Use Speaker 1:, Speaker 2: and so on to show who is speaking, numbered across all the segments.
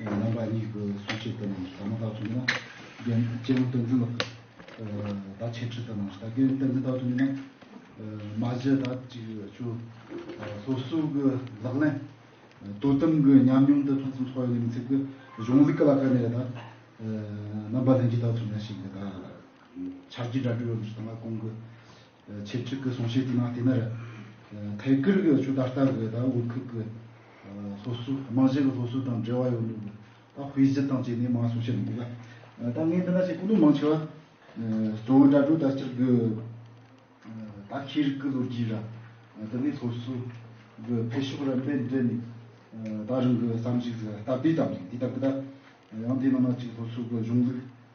Speaker 1: རྣམ་པ་གཉིས་ཀྱི་གསུང་བཤད་དེ་རྣམས་སུ་ད་མ་དག་ཏུ་མེད་ན། རྒན་གཅེན་པོ་བསྟན་འཛིན་ལགས། ད་འཆད་ཁྲིད་དེ་རྣམས་སུ་ད་རྒན་བསྟན་འཛིན་དག་ཏུ་མེད་ན། མ་གཞི་ད་ཅིག་ཆུ། སོ་སོའི་གི་ལག་ལེན། དོ་དམ་གི་ཉམས་མྱོང་དེ་ཕུན་སུམ་ཚོགས་ཡོད་མི་ཚད་ཀྱི་གཞུང་ལུགས་ཀྱི་ལ་ཁ་ནས་ད། རྣམ་པ་ལྷན་སྐྱེས་དག་ཐུབ་ན་ཞིག་གི་ད། ཕྱག་རྒྱའི་སྒྲ་སྒྲོས་ཡོད་མི་སུ་དང་ལ་དགོངས་ཀྱི། ཆེད་སྤྱོད་ཀྱི་གསུང་བཤད་དེ་ནང་དེ་ནི་ཐད་ཀར་གྱི་ཆུ་ད་ལྟ་གི་དབུས་ཁུལ་གྱི་སློབ་གསོ་རྨང་གཞིའི་སློབ་གསོ་དང་འབྲེལ་བ་ཡོད་འདུག་ད་དབུས་གཞི་དང་བཅས་ནས་མང་གསུང་བཤད་མི་འདུག་ལ། ད་ངས་འདི་ན་བཤད་ཀུན་ཏུ་མང་ཆེ་བ་གཙོ་བོ་དྲ་གྲོགས་དག་ཅིག་གིས་ད་ཤེས་རིག་གི་ལོ་རྒྱུས་ར་དེ་ནས་སློབ་གསོ་གི་འཕེལ་ཕྱོགས་ར་འདྲེན་འདྲེན་ནས་ད་རིང་གི་བསམ་གཞིགས་སྟབས་བདེ་ཙམ་ཞིག་འདི་ལྟ་བུ་ད། ཡང་འདི་ནང་ན་ཅིག་སློབ་གསོ་གི་གཞུང་ལུགས།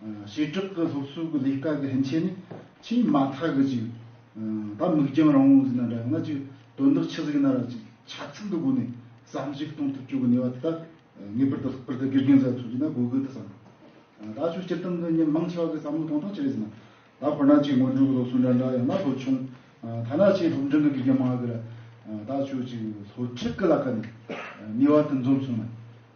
Speaker 1: བྱེ་བྲག་གི་སློབ་གསོའི་གི་ལས་ཀ་གི་ཕན་ཆད་ནི་ཆེས་དམའ་ཐག་གི་ཅིག། ད་མིག་རྒྱང་རིང་བོ་ཟིག་ན་འདྲ་ང་ཅིག་དོན་དག་ཆི་ཟིག་ན་ར་ཅིག་ཆ་ཚང་གི་སྒོ་ནས་བསམ་གཞིག་གཏོང་ཐུབ་ཆོག་གི་ནུས་པ་དེ་དག་ངེས་པར་དུ་ལྷག་པར་དུ་དགེ་རྒན་ཟེར་བ་ཚོས་ཀྱིས་ན་དགོས་གི་འདུག་བསམ། ད་ཆོས་སྤྱིར་བཏང་གི་ཉིན་མང་ཆེ་བ་གི་བསམ་བློ་གཏོང་སྟངས་ཅི་རེད་ཟེར་ན། ད་ཁོ་ན་ཅིག་སྔོན་འགྲོའི་གི་སློབ་གསོ་འདྲ་འདྲ་ཡང་ན་ལོ་ཆུང། ཐ་ན་ཆེས་སློབ་འབྲིང་གི་དགེ་རྒན་མང་གི་ར། ད་ཆོས་ཅིག་སློབ་ཁྲིད་གི་ལ་ཀ་ནི་ནུས་བ་དེ་འཛོམས་སོང་མེད།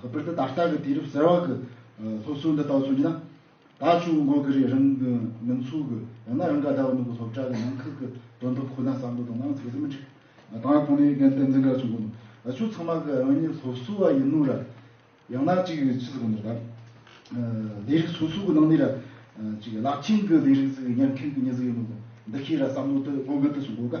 Speaker 1: ཁོ་པར་དུ་ད་ལྟ་གི་དུས་རབས་གསར་བ་གི་སློབ་གསོའི་འདི་དག་མཚོན་གྱི་ན། ད་ཆུ་བོ་འགོག་གི་རེད་རང་གི་མིང་ཚུགས་གི་ཡང་ན་རང་ག་ཟླ་བ་ནུབ་གི་སློབ་གྲྭ་གི་ནང་ཁུལ་གི་དོན་དུ་ཁོ་ན་བསམ་བློ་དང་ནང་ཚུགས་ཀྱི་མི་འགྲིག། ད་ཁོང་ནི་རྒན་བསྟན་འཛིན་ག་ཚོད་འགོ་འདུག་ཆུ་ཚང་མ་གི་རང་ཉིད་སློབ་གསོ་བ་ཡིན་ནོ་ར། ཡང་ན་ཅིག་ཕྱི་སུ་གོ་འདུག་ད། ལས་རིགས་སོ་སོ་གི་ནང་ནས་ར། ཅིག་བླ་ཆེན་གི་ལས་རིགས་ཟིག་གི་ཉན་མཁན་གི་མྱི་ཟིག་ཡིན་ནོ་འདུག་འདི་ཤེས་ར་བསམ་བློ་དུ་སློབ་མའི་དུས་སུ་འགོ་ག།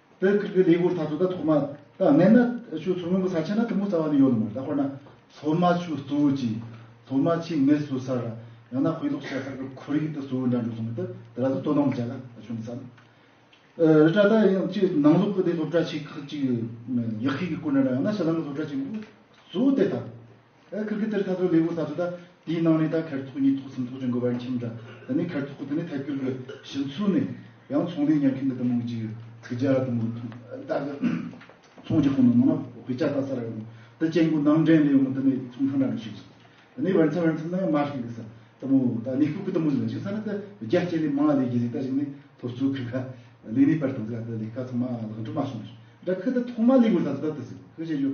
Speaker 1: དེ་ཁུལ་གྱི་ལས་སྒོར་ད་དུང་ད་ཐོག་མ་ད་གནས་ན་ཆུ་ཚོད་སྔོན་གྱི་ས་ཆ་ན་དུམ་བུ་རྩ་བ་ནས་ཡོད་མོད་ད་དཔེར་ན་ཚོད་མ་ཆུ་བཙོ་བྱེད་ཚོད་མ་ཆུ་ངལ་གསོ་སར་ཡང་ན་དཔེ་ཀློག་བྱེད་སར་གྱི་ཁོར་ཡུག་དེ་གཙོ་བོའི་འདྲ་འབྲུ་ཚོ་མེད་དེ་དེ་ལ་དུ་དོ་སྣང་བྱེད་ལ་ཆུ་མི་ཟ། རི་བཀྲ་ད་ཡང་ཆུ་ནང་ལོག་གི་དེ་སློབ་གྲྭ་ཆེ་ཁག་ཅིག་ཡག་ཤོས་ཀྱི་སྐོར་འདྲ་འདྲ་ཡང་ན་ཕྱི་ནང་གི་སློབ་གྲྭ་ཆེན་པོ་གཙོ་བོ་དེ་དང། ཁིར་གི་ཏེར་ཐ་ཐོའི་ལེའུ་ས་ཐོ་ད་དེའི་ནང་ནས་ད་ཁེར་ཐོག་གཉིས་ཐོག་གསུམ་ཐོག་ཅན་དགོས་པ་ཡིན་ཕྱིན་འདྲ་ད་ནི་ཁེར་ཐོག་གི་དེ་ནི་ཐད་སྐྱུར་གི་བཞི་ཚུལ་ནས་ཡང་ཚོང་ལས་ཉར་མཁན་གི་དུ་མོ་གཅིག་ཡོད་ཚིག་བརྒྱ་དུ་མོ་ཐུང་ད་གི་ཚོང་གྱི་ཁོངས་ནང་མང་ན་བོད་སྐྱ་ད་ས་ར་ཡོང་ནོ་ད་ཅན་གུ་ནང་འདྲེན་ལས་ཡོང་ནོ་ད་ནི་ཚོང་ཁང་འདྲ་འདྲ་ཞིག་ཡིན་ད་ནི་བར་མཚམས་བར་མཚམས་ན་ཡང་མ་ཤིག་འདུག་ས་དུ་མོ་ད་ནི་ཁུག་གི་དུ་མོ་ཟིག་ལ་ཞིག་ས་ན་ད་བརྒྱ་སྐྱེ་ནི་མང་ལ་ལས་གྱི་ཟིག་ད་ཞིག་ནི་ཐོ་བཙུག་ཁི་ཁ་ལས་ནི་པར་དང་ཟིག་ལ་ད་ལས་ཀ་ཚང་མ་ལག་འགྲུབ་མ་སོང་ཞིག་འདྲ་ཁི་ད་ཐོག་མ་ལེའུ་ས་ཐོ་ད་དུ་ཟིག་ཁི་བྱེད་རྒྱུ།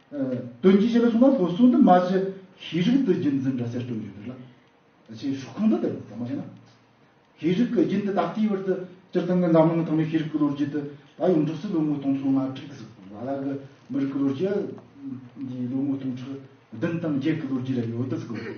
Speaker 1: དོན་གྱི་ཞལ་ལུང་མ་ཕུལ་གསུང་དུ་མ་མཆི། ཤེས་རིག་ཏུ་རྒྱུན་འཛིན་སྒྲ་སེར་སྤྲོ་འཇུག་འདི་ལ། ཅེས་ཞུ་ཁུངས་འདི་ལྟ་བུ་ཟབ་མོ་ཆེ་ན། ཤེས་རིག་གི་རྒྱུན་འདི་ད་ལྟའི་བར་དུ་སྤྱིར་བཏང་གི་འཛམ་གླིང་ཐོག་ནས་ཤེས་རིག་གི་ལོ་རྒྱུས་དུ་ད་ཡོངས་གྲུབ་སུ་ལོ་ངོ་སྟོང་ཕྲག་ང་དྲུག་གི་སྲིད་པ་ལ་གི་མི་རིགས་ཀྱི་ལོ་རྒྱུས་འདིའི་ལོ་ངོ་སྟོང་ཕྲག་བདུན་དང་བརྒྱད་ཀྱི་ལོ་རྒྱུས་ལ་ཡོད་དུ་བརྩི་དགོས།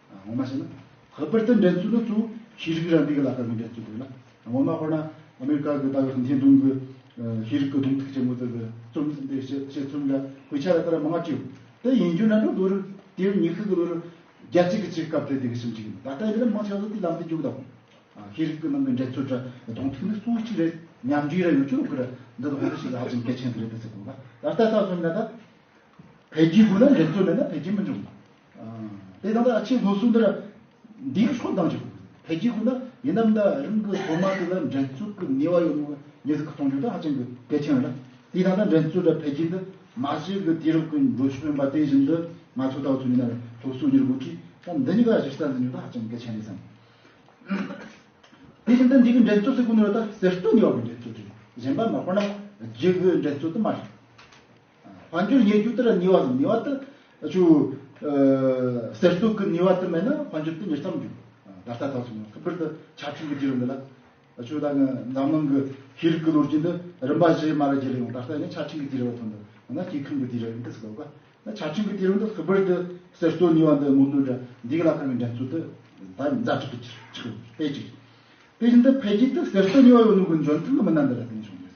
Speaker 1: ངོ་མ་བྱས་ན་ཁོ་པར་དེ་འདྲའི་རྩོད་པ་ཚོ་ཤེས་རིག་རང་སྤེལ་གྱི་ལག་ཁ་མི་འདྲ་རྩོད་དགོས་ལ་ངོ་མ་ཁོ་ན་ཨ་མེ་རི་ཀ་གི་ད་ཡོད་ཧུན་ཐའི་ཏུང་གི་ཤེས་རིག་གི་གདོང་ཐུག་ཆེན་མོ་ཚོ་གི་རྩོམ་བསྲིངས་པའི་བཤད་བཤད་རྩོམ་འདྲ་ཁོས་ཆ་ལ་དར་མ་ལྔ་བཅུ་དེ་ཡིན་རྒྱུ་ན་འགྲོ་ལོ་རུ་དེའི་ཉི་ཤུ་གི་ལོ་རུ་རྒྱ་གཅིག་གི་ཆེད་སྐབས་དེ་དེ་གི་ཞིབ་འཇུག་ཡིན་ད་ལྟ་འདི་ལ་མང་ཆེ་བ་ཚོ་དེའི་ལམ་དུ་རྒྱུགས་དང་ཤེས་རིག་གི་ནང་གི་འདྲ་རྩོད་འདྲ་གདོང་ཐུག་ནི་སུའུ་གཅིག་རེད་ཉམས་འགྲིག་རེད་ཡོང་ཆུ་ལོག་གི་རེད་འདི་ལ་ཧོན་ཏུ་ཞིག་ལ་ཧ་ཅང་གལ་ཆེན་གི་རེད་དེ་ཚོ་དགོས་པ་ད་ལྟ་ལྟ་བསམ་ན་ད་འཕེལ་རྒྱས་དགོས་ན་འདྲ་རྩོད་མེད་ན་འཕེལ་རྒྱས་མི་འབྱུང་དེ་དང་ཐོག་ཆེན་སློབ་གསོ་འདིར་འདིའི་ཕྱོགས་གཏང་ཆོག་འཕེལ་རྒྱས་ཁོ་ན་ཡིན་ནམ་ད་རིང་གི་སློབ་མ་དེ་ལ་འགྲན་རྩོད་ཀྱི་ནུས་བ་ཡོད་མེད་ངེས་ཟིག་གཏོང་རྒྱུ་དེ་ཧ་ཅང་གི་གལ་ཆེན་རེད་ལ་དེ་དང་ཐོག་འགྲན་རྩོད་དང་འཕེལ་རྒྱས་འདི་མ་བྱས་ཀྱི་དུས་རབས་ཀྱི་འགྲོ་ཕྱོགས་ཡིན་པ་དེ་བཞིན་དུ་ང་ཚོས་ལྟ་བ་ཚུལ་མིན་ན་རེད་སློབ་གསོའི་གཉེར་འགོ་ཁྲིད་སྟངས་འདི་གཉིས་ཀ་གཞིར་བསམ་ཟིན་རྒྱུ་དེ་ཧ་ཅང་གལ་ཆེན་རེད་བསམ། དེ་བཞིན་དུ་འདི་གའི་འགྲན་རྩོད་ཟེར་དགོས་ནི་རེད་ད་གསེར་སྟོད་ནུས་བ་གྱི་འགྲན་རྩོད་རེད་གཞན་པ་མ་དཔེར་ན་རྒྱལ་བོའི་འགྲན་རྩོད་དུ་མ་རེད། བར་འགྱུར་ཉེ་རྒྱུ་དེར་ཉེ་བ་དང་ཉེ་བ་དེ་ཆུ་ཟེར་གཏུག་གི་ཉེ་བ་དེ་མེད་ན་བར་འགྱུར་དེ་མྱུར་མཚམས་འགྱུར། ད་ལྟ་ད་སོང་ཁུ་སྦིར་དུ་ཆ་འཕྲིན་གྱི་རྒྱུད་རིམ་འདི་ལ་ཆུ་ད་ནི་འཛམ་གླིང་གི་ཤེས་རིག་གི་ལོ་རྒྱུས་འདི་རིམ་པ་བཞིའི་མ་ལ་བརྒྱུད་ཡོང་ད་ལྟ་ཡང་ཆ་འཕྲིན་གྱི་དུས་རབས་ཐོག་འདི་ཡང་ན་སྐྱེ་ཁམས་ཀྱི་དུས་རབས་ཡིན་སྐད་ཟེར་དགོས་པ་ན་ཆ་འཕྲིན་གྱི་དུས་རབས་འདི་ཁུ་སྦིར་དུ་ཟེར་གཏུག་ཉེ་བ་འདི་མུ་མཐུད་དུ་འདིའི་ལ་ཁ་བའི་འགྲན་རྩོད་དེ་ད་ནི་ཛ་དྲག་གི་ཆུ་ཆུ་དཔེ་གཅིག་རེད། དེ་བཞིན་དུ་འཕེལ་རྒྱས་དེ་ཟེར་གཏུག་ཉེ་བ་ཡོང་ནུབ་ཀྱི་འཇོན་ཐང་གི་མི་སྣ་འདི་ལ་བརྟེན་བྱུང་ཡོད།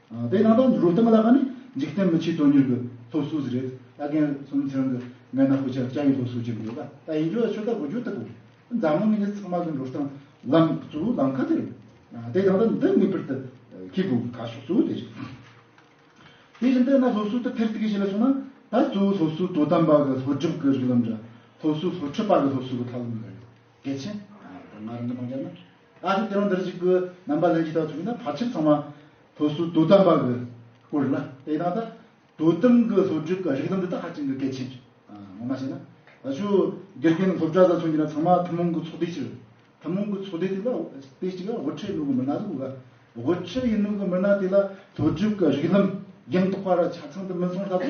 Speaker 1: དེའི་ནང་དུ་རུ་སྟོན་ལ་ཁ་ནས་འཇིག་རྟེན་མི་ཆོས་དོན་གཉེར་གྱི་སློབ་གསོ་ཟེར་རེད་ད་རྒན་གསུམ་ཚེ་རིང་གི་མགལ་ན་ཧུ་ཅག་ཅག་གིས་སློབ་གསོ་བྱེད་ཀྱི་ཡོད་པ་ད་ཡིན་རྒྱུ་ལ་ཆོས་དར་གོ་རྒྱུ་ལྟ་བུ་རེད་འཛམ་གླིང་མི་སྣ་ཚང་མ་གི་འགྲོ་སྟངས་ལམ་གཙོ་བོ་ལམ་ཁ་དེ་རེད་དེའི་ནང་དུ་འདི་ངེས་པར་དུ་ཁྱེད་དགོས་གི་ཁ་ཕྱོགས་གཙོ་བོ་དེ་རེད། དེ་བཞིན་དེ་ན་སློབ་གསོ་དེ་ཐེར་ཐུག་གིས་བྱེད་ལ་སོང་ན་ད་གཙོ་བོ་སློབ་གསོ་དོ་དམ་པ་གི་སློབ་སྒྲུབ་གི་རིགས་ལམ་འདྲ་སློབ་གསོ་སློབ་ཁྲིད་པ་གི་སློབ་གསོ་གི་ཐབས་ལམ་འདྲ་ཡོད་གལ་ཆེན་ད་ང་རང་གི་མཐོང་རྒྱ་ན། ཨ་ཏི་དེ་རང་འདིར་གཅིག་པུ་རྣམ་པ་ལན་གཅིག་དག་ཐུག་ན་བར་ཆད་ཚང་མ་ཐུགས་སུ་དུ་དམ་པ་གི་སྐུ་རུ་ལ་དེ་དང་ཐ་དུ་དམ་གི་སློབ་ཕྲུག་གི་རིགས་དང་འདི་དག་ཧ་ཅིང་གི་གལ་ཆེན་རེད་ངོ་མ་བཤད་ན་ད་ཆུ་དགེ་རྒན་སློབ་གྲྭ་ས་ཚུགས་ཀྱི་ན་ཚང་མ་ཐུན་མོང་གི་ཚོགས་སྡེ་གཅིག་རེད་ཐུན་མོང་གི་ཚོགས་སྡེ་དེ་ལ་སྡེ་གཅིག་ལ་དབུ་ཁྲིད་གནུག་གི་མི་སྣ་ཟུག་གི་དབུ་ཁྲིད་ཡིན་གནུག་གི་མི་སྣ་དེ་ལ་སློབ་ཕྲུག་གི་རིགས་ལམ་རྒྱང་ཐོག་པ་ར་ཆ་ཚང་དུ་མི་སོང་ལྷག་དུ།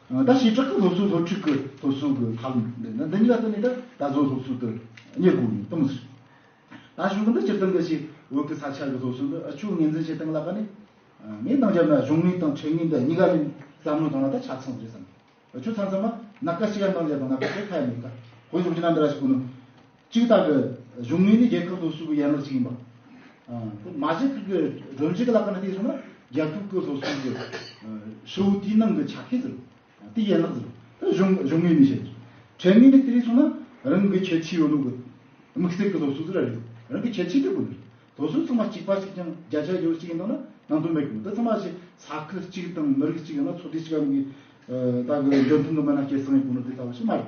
Speaker 1: ད་བྱས་བྲག་གི་སློབ་གསོ་སློབ་ཁྲིད་ཀྱི་སློབ་གསོ་གི་ཐབས་ལམ་འདི་ནི་འདི་ཉིད་ལ་བརྟེན་ནས་ད་གཟོད་སློབ་གསོ་དེ་གཉེར་དགོས་ངེས་དང་ཟེར། ད་གཞུང་གི་འདི་སྤྱིར་བཏང་གི་ཆེད་བོད་ཀྱི་ས་ཆ་གི་སློབ་གསོ་འདི་ཨ་ཆོས་ངེས་འཛིན་བྱེད་སྟངས་ལ་དགའ་ནས། ངས་འདང་བརྒྱབ་ན་གཞུང་དངུལ་དང་ཁྲལ་དངུལ་འདི་གཉིས་ཀ་ནི་བསམ་བློའི་ཐོག་ན་ད་ཆ་ཚང་རེད་བསམ། ཨ་ཆོས་ཚང་ཚང་མ་ནཱ་ག་ཤེ་ཡ་འདང་བརྒྱབ་དང་ནཱ་ག་ཤེ་ཡ་ཁ་ཡ་མེད་ཀ། བོད་གཞུང་ཕྱི་ནང་འདི་ར་ཞིག་གོ་ནི། གཅིག་ལྟར་གྱི་གཞུང་ངོས་ནས་རྒྱལ་ཁབ་སོ་སོའི་ཡན་ལག་ཅིག་ཡིན་པ། མ་གཞི་ཁག་གི་སྒྲོམ་གཞི་གི་ལག་ཁང་ལ་བལྟས་སོང་ན་རྒྱལ་ཁབ་ཀྱི་སོ་སོའི་གྱི་ཧྲིལ་བོ་དེའི་ནང་གི་ཆ་ཤས་ཟེར་རོ། དེའི་ཡན་ལག་ཟེར་རོ། དེ་གཞུང་གཞུང་ངོས་ནས་བཤད་ཆོག། གྲལ་ངོས་ནས་བལྟས་སོང་ན་རང་གི་ཁྱད་ཆོས་ཡོད་ནོ་གི། དམིགས་བསལ་གྱི་སློབ་གསོ་ཟེར་ར་རེད། རང་གི་ཁྱད་ཆོས་དེ་ཀུན་རེད། སློབ་གསོ་ཚང་མ་གཅིག་པ་ཞིག་ཀྱང་བརྒྱ་ཆ་ཡོད་ཅིག་ཡིན་ནོ་ན་ནང་དོན་མེད་གི། འདི་ཚང་མ་ཞིག་ས་ཁུལ་གཅིག་དང་མི་རིགས་གཅིག་ཡང་ན་ཚོ་སྡེ་གཅིག་གམ་གྱི་ད་གི་འདྲ་མཐུན་གྱི་མི་སྣ་སྐྱེ་སངས་ཡོད་ཀུན་ནོ་དེ་ལྟ་བུ་ཞིག་མ་རེད།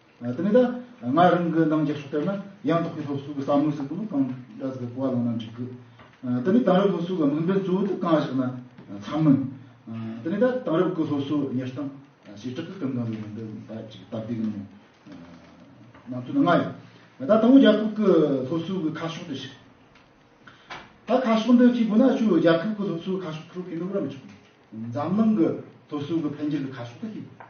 Speaker 1: དེ་ནས་ད་ང་རང་གི་རྣམ་འཇགས་སུ་ལྟར་ན་ཡང་དག་པའི་སློབ་གསོ་གི་བསམ་བློ་ཟེར་བ་ལ་གང་འདྲ་ཟེར་གོ་བ་ལོན་ན་འགྲིག་གི། དེ་ནས་དེང་རབས་སློབ་གསོ་གི་དམིགས་འབེན་གཙོ་བོ་དེ་གང་ཞིག་ན་འཚམ་མོད། དེ་ནས་ད་དེང་རབས་ཀྱི་སློབ་གསོ་གཉེར་སྟངས་བྱེ་བྲག་གི་སྐབས་འགའ་ལ་ཡོང་དོན་ད་ཅིག་སྟབས་བདེ་གི་ངང་ནང་དོན་ནི་ལྔ་ཡོད། ད་ལྟ་བུ་རྒྱ་ཁབ་ཀྱི་སློབ་གསོ་གི་ཁ་ཕྱོགས་འདི་ཞིག་ད་ཁ་ཕྱོགས་འདི་གཅིག་དགོས་ན་བཅུ་རྒྱ་ཁབ་ཀྱི་སློབ་གསོ་གི་ཁ་ཕྱོགས་ཁྲོད་ཕན་ནུས་རབ་བྱུང། འཛམ་གླིང་གི་སློབ་གསོ་གི་འཕེལ་འགྱུར་གྱི་ཁ་ཕྱོགས་ད་གཅིག་དགོས།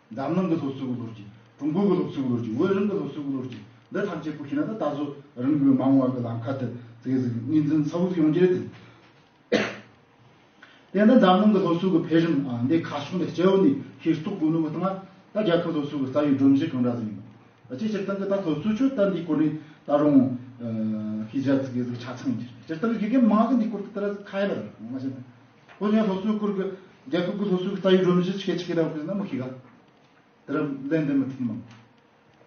Speaker 1: འཛམ་གླིང་གི་སློབ་གསོའི་ལོ་རྒྱུས། ཀྲུང་གོའི་སློབ་གསོའི་ལོ་རྒྱུས། ཝེ་རིམ་གྱི་སློབ་གསོའི་ལོ་རྒྱུས། འདི་ཐམས་ཅད་སྐོར་ཤེས་ན་ད་ལྟ་གཟོད་རིམ་གྲོའི་མ་འོངས་བར་གྱི་ལམ་ཁ་དེ་ཚད་གཞི་གཉིས་འཛིན་ཚ་བོ་ཞིག་ཡོང་གི་རེད་དེ། དེ་ནི་འཛམ་གླིང་གི་སློབ་གསོའི་འཕེལ་རིམ་འདི་ཁ་ཕྱོགས་འདི་སྐྱེ་བོ་འདིས་ཤེས་རྟོགས་དགོས་ནུས་པ་དང། ད་རྒྱལ་ཁབ་སློབ་གསོའི་རྩ་བའི་སྒྲོམ་གཞི་གང་འདྲ་ཟིན་ཡོད། ཅིའི་ཕྱིར་ཏང་གིས་ད་སློབ་གསོའི་ཆོས་དད་འདིའི་སྐོར་ནས་ད་རུང་ཤེས་བྱ་ཚིག་གི་ཆ་ཚང་ཡོད་ཅེ་ན། སྤྱིར་བཏང་གི་དགེ་རྒན་མང་གི་འདིའི་སྐོར་དུ་དེ་ལ་ཁ་གཡར་ཡོད་པ་རེད། ཁོ་ཡང་སློབ་གསོའི་སྐོར་གྱི་རྒྱལ་ཁབ་ཀྱི་སློབ་གསོའི་རྩ་ཡིག་སྒྲོམ་གཞི་ཆེ་ཆེ་རག་པའི་སྣ་མང་ཞིག་ག་དེ་རུ་ལན་འདེབས་མི་ཐུབ་མོད།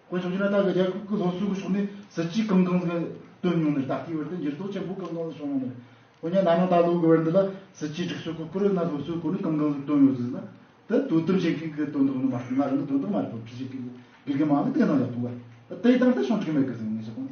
Speaker 1: དཀོན་མཆོག་ཀྱིས་ན་ད་གི་རྒྱལ་ཁབ་ཀྱི་སློབ་གསོའི་ཕྱོགས་ནས་གཟི་བརྗིད་གང་གང་ཟིག་བཏོན་མྱོང་ནས་ད་ལྟའི་བར་དུ་འགྱུར་ལྡོག་ཆེན་པོ་གང་གང་ཟིག་བྱུང་མྱོང་ནས། འོན་ཀྱང་ན་ནིང་ད་ལོའི་དགུ་བར་འདི་ལ་གཟི་བརྗིད་སྒྲིག་སྲོལ་གྱི་སྐོར་ཡང་ན་སློབ་གསོའི་སྐོར་ནས་གང་གང་ཟིག་བཏོན་ཡོད་ཟིག་ན་དེ་དོ་དམ་བྱེད་མཁན་གྱིས་དོན་དག་ནི་མ་རྩ་ང་རང་གིས་དོན་དག་མ་རེད་དོ་ཁྲིད་བྱེད་མཁན་གྱི་དགེ་རྒན་མང་ལ་བལྟས་གནང་ཡག་འདུག་ག་དེ་ཡི་སྟངས་དེ་བྱུང་ཁྲིག་མེད་གི་ཟིག་ངེས་ཤེས་གང།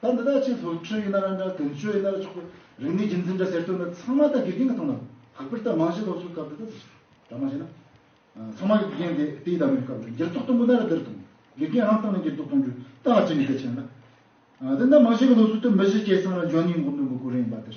Speaker 1: ད་འདི་དག་ཆེས་ལྷོད་ཁྲོད་ཡིན་ན་རང་འདྲ་དོན་གཅོད་ཡིན་ན་ར་ཆོག་གི་རིག་གནས་རྒྱུན་འཛིན་འདྲ་ཟེར་དོན་ནི་ཚང་མ་ད་དགེ་རྒན་གྱི་ཐོག་ན་ལྷག་པར་ད་མང་གཞི་སློབ་གསོའི་སྐབས་འདི་དག་ད་མང་གཞི་ན་ཚང་མ་གི་དགེ་རྒན་དེ་དེའི་ད་མོའི་སྐབས་འདི་འགྱུར་ལྡོག་གཏོང་དགོས་ན་ར་འདིར་གཏོང་དགེ་རྒན་རང་སྟེང་ན་འགྱུར་ལྡོག་གཏོང་རྒྱུ་ད་ང་ཅི་ནས་གལ་ཆེ་ན་ད་འདི་ད་མང་གཞི་གི་སློབ་གསོ་དེ་མི་གཞི་བཅས་ཚང་ན་འཇོན་ཉིན་མགོ་འདོན་དགོས་དགོས་རེད་ཡིན་པ་འདིར།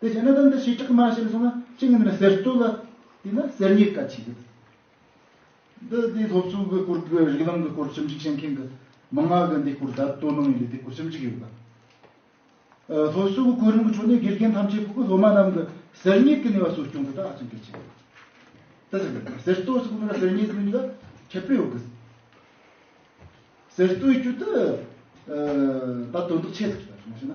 Speaker 1: དེ་བྱས་ན་དང་དུ་ཞེས་གྲགས་མ་བྱས་ནས་སོང་ན་གཅིག་ནི་ཟེར་སྟོད་ལ་དེ་ན་གསེར་རྙེད་ཀ་བྱེད་ཡོད། འདི་དེའི་སློབ་གསོ་གི་སྐོར་གྱི་རིགས་ལམ་གྱི་སྐོར་ཞིབ་འཇུག་བྱེད་མཁན་གྱི་མི་ལྔ་གིས་འདིའི་སྐོར་བརྡ་སྤྲོད་གནང་ཡོད་པས་དེའི་སྐོར་ཞིབ་འཇུག་ཡོད་པ། སློབ་གསོ་གི་གོ་རིམ་གྱི་ཁྲོད་ནས་དགེ་རྒན་ཐམས་ཅད་ཕུགས་ཀྱི་སློབ་མ་རྣམས་ཀྱི་གསེར་རྙེད་ཀྱི་ནུས་པ་གསོ་སྐྱོང་དེ་དག་ཧ་ཅང་གལ་ཆེན་པོ་རེད། དེ་ཟེར་སྟོད་སོགས་ནི་གསེར་རྙེད་ཀྱི་ནུས་པ་ཁྱད་པར་ཡོད་དགོས། ཟེར་སྟོད་ཀྱི་དུ་ད་དོན་དག་ཆེ་ཟེར་མ་ཤེས་ན།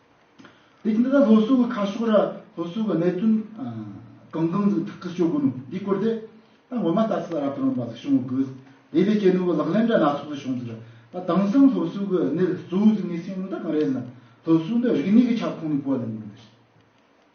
Speaker 1: འདི་ལྟར་ལྷོ་སོག་གི་ཁ་ཕྱོགས་ར་ལྷོ་སོག་གི་གནད་དོན་གང་གང་ཟིག་ཐག་གིས་གཅོད་དགོས་ནོ་འདི་སྐོར་དེ་ད་ངོ་མ་ལྟ་ཚུལ་ར་བཏོན་པ་ཟིག་བྱུང་དགོས་དེ་ལས་ཀྱི་ནུས་པ་ལག་ལེན་འདྲ་སྣ་ཚོགས་ཟིག་བྱུང་ཚུལ་ར་ད་དེང་སང་ལྷོ་སོག་གི་གནད་གཙོ་བོ་ཟིག་ངས་སེམས་ལ་ད་གང་རེད་ཟེར་ན་ལྷོ་སོག་འདི་རིག་གནས་ཀྱི་ཁྱབ་ཁོངས་ནས་གོ་ལ་ནས་ཡིན་པ་རེད།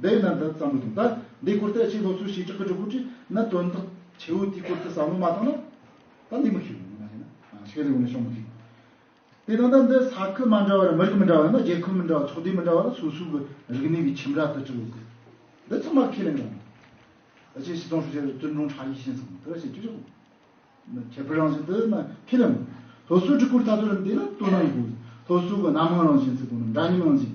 Speaker 1: འདི་ཡིན་ན་འདི་ཙམ་མི་འདུག་ད་འདིའི་སྐོར་དེ་ཕྱིའི་སློབ་གསོའི་བྱེད་སྒྲུབ་ཀྱི་སྒྲུབ་ཕུགས་བྲིས་ན་དོན་དག་ཆེའུ་དེའི་སྐོར་དེ་བསམ་བློ་མ་བཏང་ན་ད་འདི་མི་ཤེས་རུང་ང་ཡིན་ན་ཤེས་རིག་འོག་ནས་ཤོང་མི་ཐུབ། དེ་དང་ད་འདི་ས་ཁུལ་མ་འདྲ་བར་མི་རིགས་མི་འདྲ་བ་ཡོད་ན་རྒྱལ་ཁབ་མི་འདྲ་བ་ཚོགས་སྡེ་མི་འདྲ་བ་ལ་སོ་སོའི་གི་རིག་གནས་ཀྱི་ཁྱིམ་ར་དུ་བྲིས་ཡོད་དེ་འདི་ཚང་མ་ཁས་ལེན་གི་རང་རེད། ད་ཕྱིའི་སྲིད་སྐྱོང་ཧྲུའུ་ཅི་ཀྲུང་ཀྲུང་ཧྲ་ཡེ་ཤེས་ཟེར་དེ་བ་བྱེད་ཀྱི་རེད་དགོས་ན་ཁྱད་པར་རང་བཞིན་དེ་ན་ཁས་ལེན་དགོས། སློབ་གསོའི་སྒྲིག་བཀོད་ཐ་དོད་ལ་འདས་ན་དོ་སྣང་ཡོད་དགོས། སློབ་གསོ་གི་སྣ་མང་རང་བཞིན་ཚད་དོ་ན་འདྲ་མཉམ་རང་བཞིན།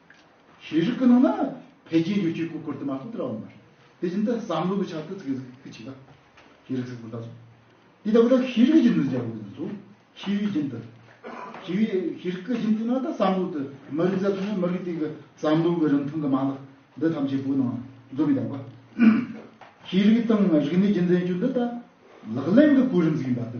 Speaker 1: ཤེས་རིག་གི་ནང་ན་འཕེལ་རྒྱས་ཡོ་བྱད་ཀུ་ཀུར་དུ་མ་ཐུབ་དེ་ར་བ་མ་རེད། དེ་བཞིན་དུ་བསམ་བློ་གི་ཆ་དུ་ཚིག་གི་གི་ཆིག་ལ། ཤེས་རིག་ཚིག་ཕུ་ལྟ་སོགས། དེ་ལྟ་བུ་ལ་ཤེས་རིག་གི་ཁྱིམ་དུ་འཇགས་དགོས་དུས་སུ་ཤེས་རིག་ཁྱིམ་དུ། ཤེས་རིག་ཤེས་རིག་གི་ཁྱིམ་དུ་ནང་དུ་བསམ་བློ་དུ་མ་རིག་ཟེར་སོང་ན་མ་རིག་དེ་གི་བསམ་བློ་གི་རིང་ཐུང་གི་མ་ལག་འདི་ཐམས་ཅད་པོ་ནང་འཛོམས་མི་ད་གོ། ཤེས་རིག་དང་རིག་གནས་ཀྱི་མཛེས་དཔྱོད་འདི་ད་ལག་ལེན་གི་གོ་རིམ་ཟིག་ཡིན་པ་དུ།